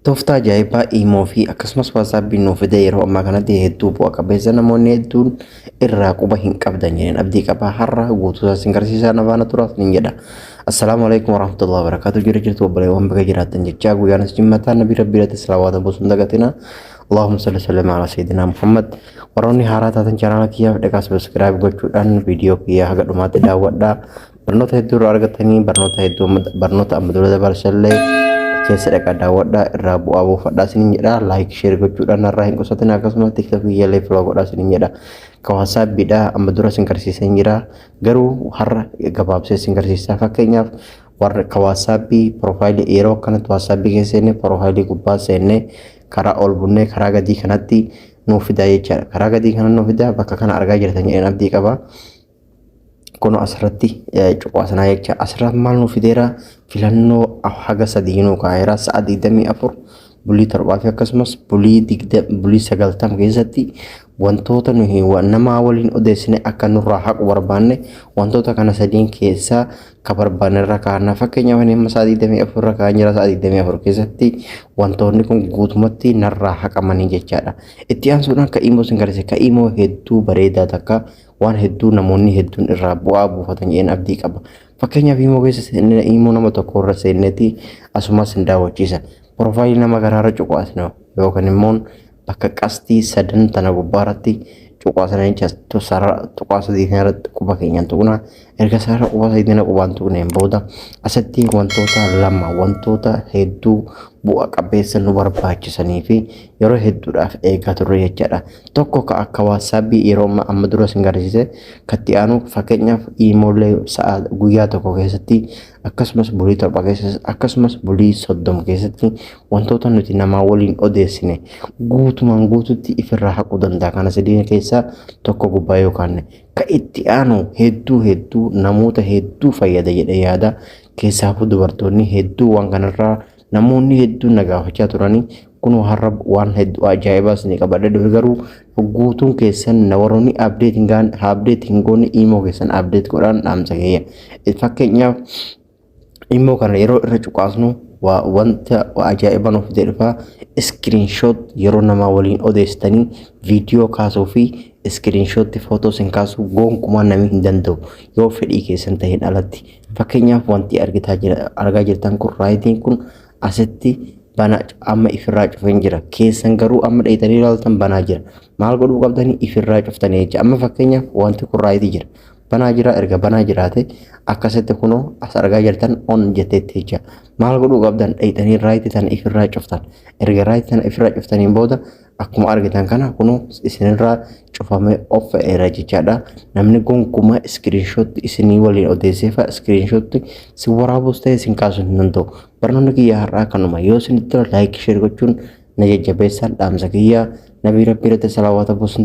Tooftaa ajaa'ibaa iimoo fi akkasumas waasaappiin nuuf fide yeroo ammaa kanatti hedduu bu'a qabeessa namoonni hedduun irraa quba hin qabdan jedheen abdii qabaa har'a guutuu isaa isin garsiisaa na faana turaa isin jedha. Assalaamu alaikum warahmatullahi wabarakatuh jira jirtu obboleewwan baga jiraattan jechaa guyyaan as jimmataa nabii rabbii irratti salawaata buusuun dagatina. Allahumma salli sallim ala sayyidina Muhammad. Warroonni haaraa taatan chanaala kiyyaaf dhaqaa sabiskiraayib gochuudhaan viidiyoo kiyyaa haga dhumaatti daawwadhaa. Barnoota hedduu irraa argattanii barnoota hedduu amma- barnoota amma dura dabarsallee keessa dhaqaa daawwadhaa irraa bu'aa buufadhaa isiniin jedha laayik sheer gochuudhaan narraa hin qusatin akkasumas tiktok biyyaalee filoo godhaa isiniin jedha ka waasaappiidha amma dura isin garsiiseen jira garuu har'a gabaabsee isin garsiisaa fakkeenyaaf warra ka waasaappii piroofaayilii yeroo akkanatti waasaappii keessa seenne piroofaayilii gubbaa seenne karaa ol bunnee karaa gadii kanatti nuuf fidaa jechaadha karaa gadii kana nuuf fidaa bakka kana argaa jirtan jedheen abdii qaba. Kun asirratti cuqaasinaa jecha asirratti maal nu fideera filannoo haga sadii nu kaa'eera sa'a 24 bulii torbaa fi akkasumas bulii digda bulii sagaltam keessatti wantoota nuyi namaa waliin odeessine akka nurraa haqu barbaanne wantoota kana sadiin keessaa ka barbaanne irra kaa'anna fakkeenyaaf inni amma sa'a 24 irra kaa'an jira sa'a 24 keessatti wantoonni kun guutumatti narraa haqamanii jechaadha itti aansuudhaan ka imoo sin gargaarsa ka imoo hedduu bareedaa takka waan hedduu namoonni hedduun irraa bu'aa buufatan jedheen abdii qaba. Fakkeenyaaf imoo keessa seennee imoo nama tokko irra seenneeti asumas hin daawwachiisa. Piroofaayilii nama kanaarra cuqaasna yookaan immoo bakka qastii sadan tana gubbaarratti cuqaasna jecha tuqaa sadii kanarratti quba keenyaan tuqna Erga sarara qubaa sayiidina qubaan tuqneen booda asitti wantoota lama wantoota hedduu bu'a qabeessa nu barbaachisanii fi yeroo hedduudhaaf eegaa turre jechaadha. Tokko ka akka waassaabbii yeroo amma amma dura sin garsiise katti aanu fakkeenyaaf iimoolee sa'a guyyaa tokko keessatti akkasumas bulii torba keessatti akkasumas bulii soddom keessatti wantoota nuti namaa waliin odeessine guutumaan guututti ifirraa haquu danda'a. Kana sadiin keessaa tokko gubbaa yoo kaanne Ka itti aanu hedduu hedduu namoota hedduu fayyada jedhee yaada. Keessaafuu dubartoonni hedduu waan kanarraa namoonni hedduun na gaafachaa turanii kunoo har'a waan hedduu ajaa'ibaa isinii qabadhee dhufe garuu guutuun keessan na warroonni abdeet hin gaane abdeet hin goone imoo keessan abdeet godhaan dhaamsa keeyya. Fakkeenyaaf immoo kana yeroo irra cuqaasnu waa wanta waa ajaa'ibaa nuuf fidee dhufa iskiriinshoot yeroo namaa waliin odeessitanii viidiyoo kaasuu fi iskiriinshootti footoo sin kaasuu gonkumaa namni hin danda'u yoo fedhii keessan ta'een alatti fakkeenyaaf wanti argitaa jira argaa jirtan kun raayitiin kun asitti bana amma ifirraa cufeen jira keessan garuu amma dheeytanii ilaaltan banaa jira maal godhuu qabdanii ifirraa cuftanii jecha amma fakkeenyaaf wanti kun raayitii jira banaa jira erga banaa jiraate akkasitti kunoo as argaa jirtan on jetteetti jecha maal godhuu qabdan dheeyxanii raayiti tana ifirraa cuftan erga raayiti tana ifirraa cuftaniin booda akkuma argitan kana kunoo isinirraa cufamee of fa'eera jechaadha namni gonkumaa iskiriinshootti isinii waliin odeesseefa iskiriinshootti si waraabus ta'e isin kaasuu hin danda'u barnoonni kiyya har'aa kanuma yoo isinitti tola laayik sheer gochuun na jajjabeessaa dhaamsa kiyya nabii rabbii irratti salawaata buusun